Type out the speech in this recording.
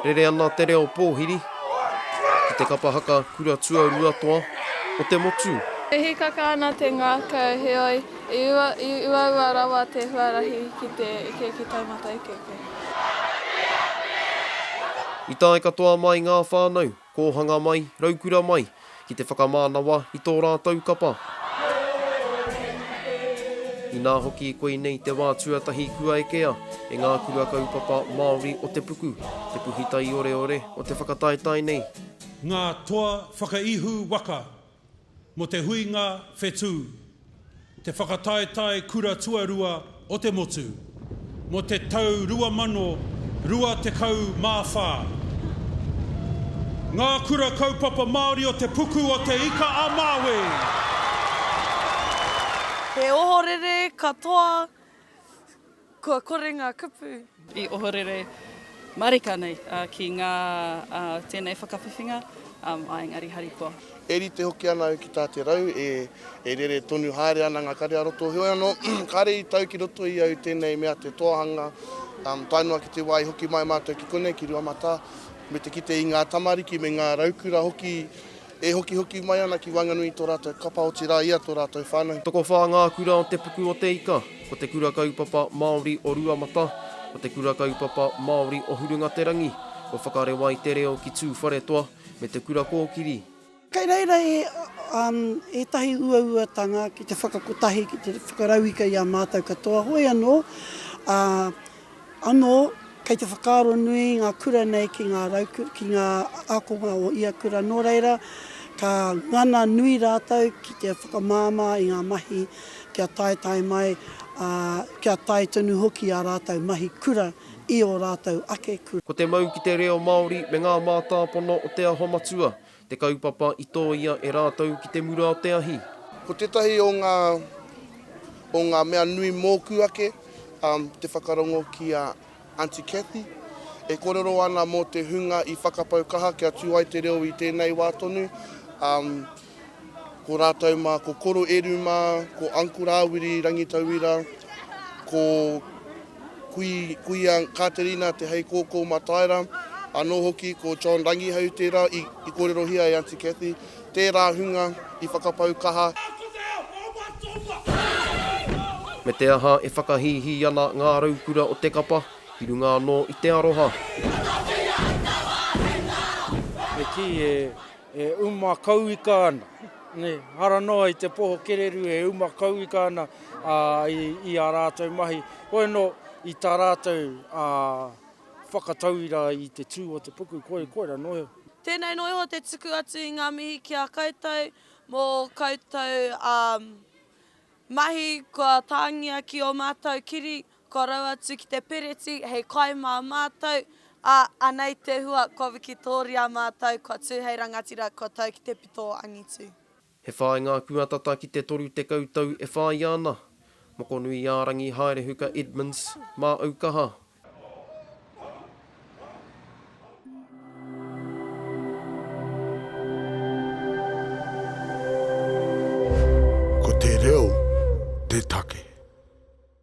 Rere ana te reo pōhiri ki te kapa haka kura tuaruatoa o te motu. E hīkaka ana te ngākau, heoi, i uaua rawa te huarahi ki te eke ki taumata eke koe. I tae katoa mai ngā whānau Kōhanga mai, Raukura mai, ki te whakamānawa i tō rātou kapa. Inā hoki koinei te wā tuatahi kua ekea e ngā kura kaupapa Māori o te puku, te puhi taioreore o te whakataetae nei. Ngā toa whakaihu waka Mō te huinga whetū, te whakataetae kura tuarua o te motu, mō te tau 2024. Ngā Kura Kaupapa Māori o Te Puku o Te Ika-a-Māui. He ohorere katoa. Kua kore ngā kupu. I ohorere marika nei ki ngā tēnei whakawhiwhinga a Engari Harikoa. E rite hoki ana au ki tā te rau e rere tonu haere ana ngā kare a roto, heoi anō, kāre i tau ki roto i au tēnei mea te toahanga, tae noa ki te wā i hoki mai mātou ki konei, ki Ruamatā, me te kite i ngā tamariki me ngā raukura hoki, E hokihoki mai ana ki waenganui i tō rātou kapa otirā i a tō rātou whānau. Tokowhā ngā kura o te puku o Te Ika. Ko te Kura Kaupapa Māori o Ruamata, ko te Kura Kaupapa Māori o Hurungaterangi, ko Whakarewa i te Reo ki Tūwharetoa, me te Kura Kōkiri. Kei reira ētahi uauatanga ki te whakakotahi, ki te whakarauika i a mātou katoa, hoi anō, ā. Anō, kei te whakaaro nui ngā kura nei ki ngā rauku, ki ngā ākonga o ia kura, nō reira, ka ngana nui rātou ki te whakamāmā i ngā mahi kia taetae mai, ā, kia tae tonu hoki ā rātou mahi kura i ō rātou ake kura. Ko te mau ki te reo Māori me ngā mātāpono o Te Aho Matua, Te kaupapa i tōia e rātou ki te mura o te ahi. Ko tētahi o ngā, o ngā mea nui mōku ake, te whakarongo ki a Aunty Cathy, e kōrero ana mō te hunga i whakapau kaha kia tū ai te reo i tēnei wā tonu, ko rātou mā, ko Koro Eru mā, ko Uncle Rāwiri Rangitauira, ko Kui, Kuia Katerina Te Heikōkō Mataira, anō hoki ko John Rangihau tērā i, i kōrerohia e Aunty Cathy, tērā hunga i whakapau kaha. Me te aha e whakahīhī ana ngā raukura o te kapa ki runga anō i te aroha. He kī e E uma kauika ana, nē, ara noa i te poho kererū e uma kauika ana i ā rātou mahi, hoi anō i tā rātou whakatauira i te tū o te puku, koirā noa iho. Tēnei noa iho te tuku atu i ngā mihi ki a koutou mō koutou mahi kua tāngia ki ō mātou kiri Korou atu ki te Piriti hei kai mā mātou, ā, anei te hua, kua wikitōria mātou, kua tū hei rangatira, kua tau ki te pito o angitu. He whāi ngā kua tata ki te 30 tau e whāia ana. Mokonuiārangi Haerehuka Edmonds, Māau kaha. Ko te reo te take.